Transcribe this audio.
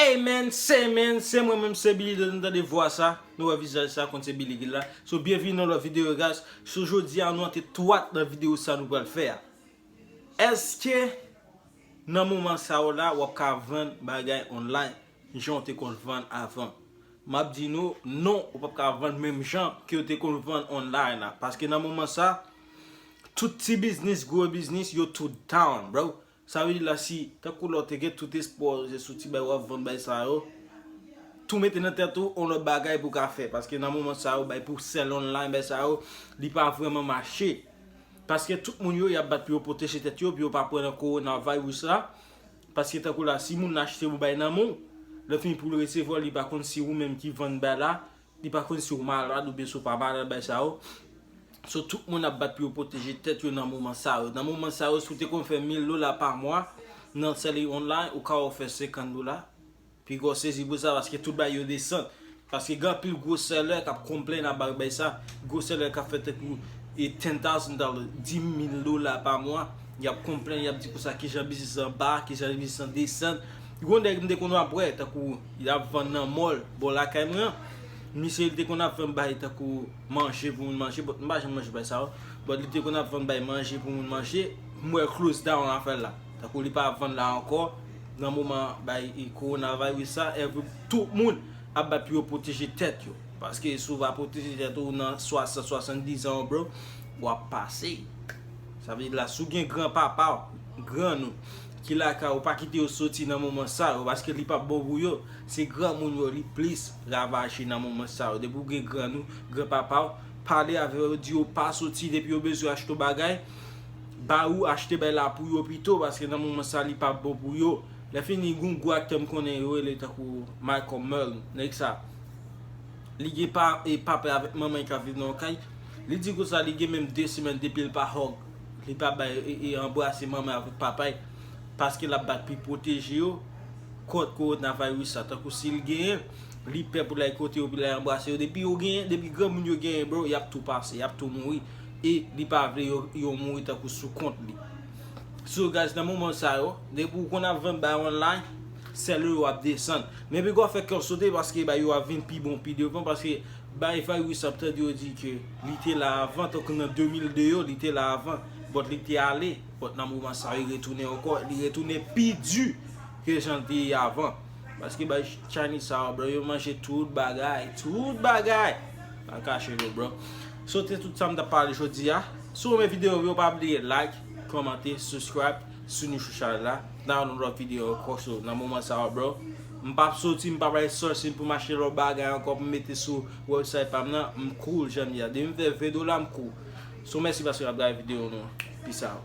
Amen Semen se mwen menm se Billy lènou tande vwa sa nou wè vizaj sa konn se Billy ki la so byenvini nan lòt video guys so jodi a nou antre twat nan video sa nou pral fè a èske nan moman sa ou la wap ka vann bagay online jan ou te konn vann avan map di nou non ou pap ka vann menm jan ke ou te konn vann online la paske nan moman sa tout ti biznis gwo biznis yo tout down bro Sa vle di la si tankou la w te gen tout espwa w se sou ti bagay w ap vann bay sa yo, tou mete nan tèt ou yon lòt bagay pou w ka fè. Paske nan moman sa yo bay pou sèl online bay sa yo, li pa vrèman mache. Paske tout moun yo y ap bat pou yo pwoteje tèt yo pou yo pa pran nan coronavirus la. Paske tankou la si moun nan achte pou bay nan men w, lè fini pou l resevwa l li pa konn si ou menm ki vann bay la Li pa konn si w malad oubyen si w pa malad bagay sa yo. So tout moun ap bat pou yo pwoteje tèt yo nan moman sa yo. Nan moman sa yo si w te konn fè 1000 dola pa mwa nan selling online ou ka wè w fè 50 dola. Pi gwo sezi pou sa paske tout bagay yo desann. Paske gen anpil gwo seller kap konplenn aba bay sa. Gwo seller kap fè tankou 10,000 dollars, 10,000 dola pa mwa. Yap konplenn yap di konsa kijan biznis lan ba, kijan biznis lan desann. Gon nèg m te konn ap wè tankou. Yap vann nan mall bò lakay mwen an. Misye li te konn ap vann bagay tankou manje pou moun manje but m pa janm manje bagay sa yo. But li te konn ap vann bagay manje pou moun manje. M wè close down afè l la. Tankou li pa ap vann la ankò. Nan moman bagay coronavirus sa every tout moun ap bat pou yo pwoteje tèt yo. Paske si w pa pwoteje tèt ou nan 60, 70 zan w bro, wap pase. Sa vle di la si w gen gran papa w, grann ou. ki lakay ou pa kite yo soti nan moman sa yo paske li pap bon pou yo se granmoun yo li plis ravaje nan moman sa yo depi ou gen grann ou gran papa ou pale avè yo di yo pa soti depi yo bezwen achte w bagay ba ou achte bay la pou yo pito paske nan moman sa li pap bon pou yo lè fini gon gwo aktè m konnen yo rele tankou Malcolm Merle nèg sa li gen pa e papa avèk manman ki ap viv nan yon kay li di konsa li gen menm 2 semèn depi l pa hug Li pa bay e anbrase manman avèk papay paske l ap bat pi pwoteje yo kont kowonaviris la tankou si l genyen li pè pou l al kote yo pou l al anbrase yo depi yo genyen depi granmoun yo genyen bro y ap tou pase y ap tou mouri e li pa vle yo mouri tankou sou kont li so guys nan moman sa yo depi ou konn ap vann bay online sèl ou yo ap desann men pi gò fè kè w sote paske bagay yo ap vin pi bon pi devan paske Bay virus ap tande yo di ke li te la avan tankou nan 2002 yo li te la avan but li te ale but nan moman sa li retounen ankò li retounen pi di ke jan li te ye avan paske bay chinese sa yo bro yo manje tout bagay tout bagay pa kache nou bro so te tout sa m tap pale jodi a si w renmen video yo pa bliye like kòmante subscribe si w nou sou chanèl la nan yon lòt video ankò so nan moman sa yo bro. M pap soti, m pap al Eastchurchhill pou m achte lòt bagay ankò pou m mete sou website pa m nan, m cool jan m ye a. Depi m fè 20 dola m cool. So mèsi paske nap gade video nou. Peace out.